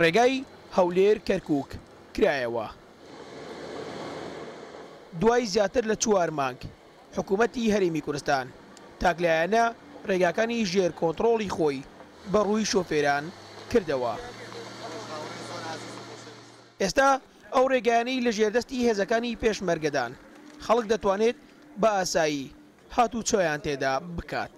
ڕێگای هەولێر کەرکوک کرایەوە دوای زیاتر لە چوار مانگ حکومەتی هەرێمی کورستان تاکلایەنە ڕێگاکانی ژێر کۆنتڕۆڵی خۆی بە ڕووی شۆفێران کردەوە ئێستا ئەو ڕێگایانەی لە ژێردەستی هێزەکانی پێشمەرگەدان خەڵک دەتوانێت بە ئاسایی هاتوچۆیان تێدا بکات.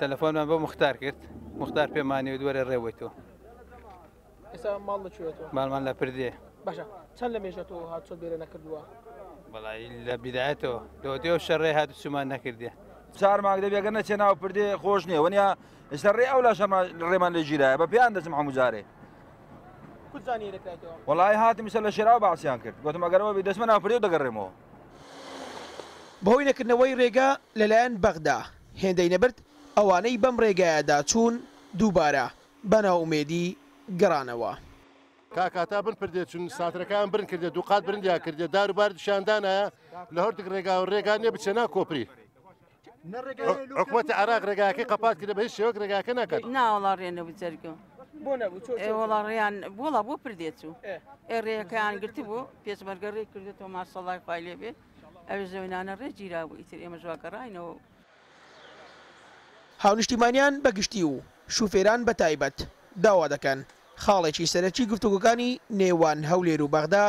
تەلەفۆنمان بۆ مختار کرد مختار پێمانی و دووەرە ڕێوەی تۆ ئێستا ماڵ لەکوێتەوە ماڵمان لە پردێ باشە چەند لە مێژەتەوە هاتۆ بێرە نەکردووە بەڵی لە بیدایەتەوە لەوەتی ئەو شەڕێ هات سومان نەکردێ چار مانگ دەبێگە نەچێ ناو پردێ خۆش نیە وەنیا ئێستا ڕێ ئەو لە شەمان ڕێمان لە گیرایە بە پێیان دەچم هەمووجارێ وڵی هاتم سە لە شێراوە باسییان کرد گوتم ئەگەرەوە بی دەسمە ناپری و دەگەڕێمەوە بەهۆی نەکردنەوەی رێگە لەلایەن بەغدا، هێندەی نەبرد ئەوانەی بەم رێگایەدا چوون دووبارە بە نائومێدی گەڕانەوە. تا کاتا بن پردێ چون ساترەکایان برن کردێ، دووقات برندیان کردێ، دار و باردشیان دانایە لە هەردوگ رێگا و رێگا نێ بچێ نا کۆپری. حکوومەتی عراق ڕێگاکەی قەپات کرد بە هیچ شێوەک ڕێگاکە ناکات ناوەڵا ڕێنە بجەرگە بۆ نەبوو وڵا ڕێیان بۆڵا بۆ پردێت و ئێ ڕێەکەیان گرت بوو پێچمەرگە ڕێ کردێتەوە ماسەڵای خخوای لێ بێت ئەوێ زەوینانە ڕێ گیرا بوو ئیتر ئێمە جوواکە ڕاینەوە هاونیشتیمانیان بە گشتی و شوفێران بە تایبەت داوا دەکەن خاڵێکی سەرەکی گفتوگۆکانی نێوان هەولێر و بەغدا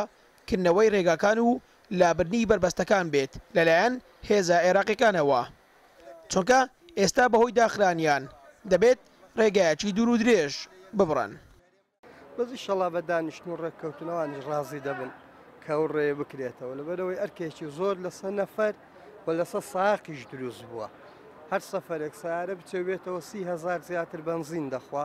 کردنەوەی رێگاکان و لابردنی بەربەستەکان بێت لەلایەن هێزە عێراقیەکانەوە چونکە ئێستا بەهۆی داخرانیان دەبێت رێگایەکی دوور و درێژ ببڕن. بەس ئیشەڵا بە دانیشتن و ڕێککەوتن ئەوانیش ڕازی دەبن کە ئەو ڕێیە بکرێتەوە لەبەرەوەی ئەرکێکی زۆر لەسەر نەفەر و لەسەر ساقیش دروست بووە هەر سەفەرێک سارە بچێ بێتەوە سی هەزار زیاتر بەنزین دەخوا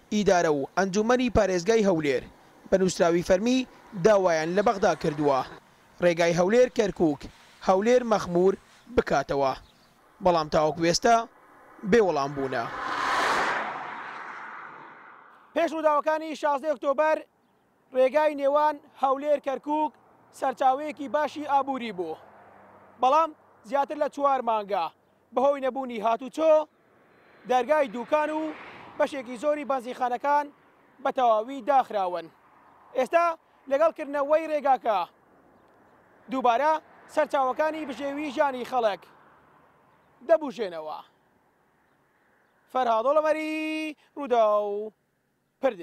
ئیدارە و ئەنجوومەنی پارێزگای هەولێر بە نووسراوی فەرمی داوایان لە بەغدا کردووە رێگای هەولێر کەرکووک، هەولێر مەخموور بکاتەوە، بەڵام تاوەکو ئێستا بێ وەڵام بوونە. پێش رووداوەکانی شازدە ی ئۆکتۆبەر، رێگای نێوان هەولێر کەرکوک سەرچاوەیەکی باشی ئابوری بوو بەڵام زیاتر لە چوار مانگە بەهۆی نەبوونی هاتوچۆ دەرگای دوکان و بەشێکی زۆری بەنزیخانەکان بە تەواوی داخراون ئێستا لەگەڵ کردنەوەی رێگاکە دووبارە سەرچاوەکانی بژێوی ژانی خەڵک دەبوژێنەوە فەرهاادۆڵەمەری ڕوودا و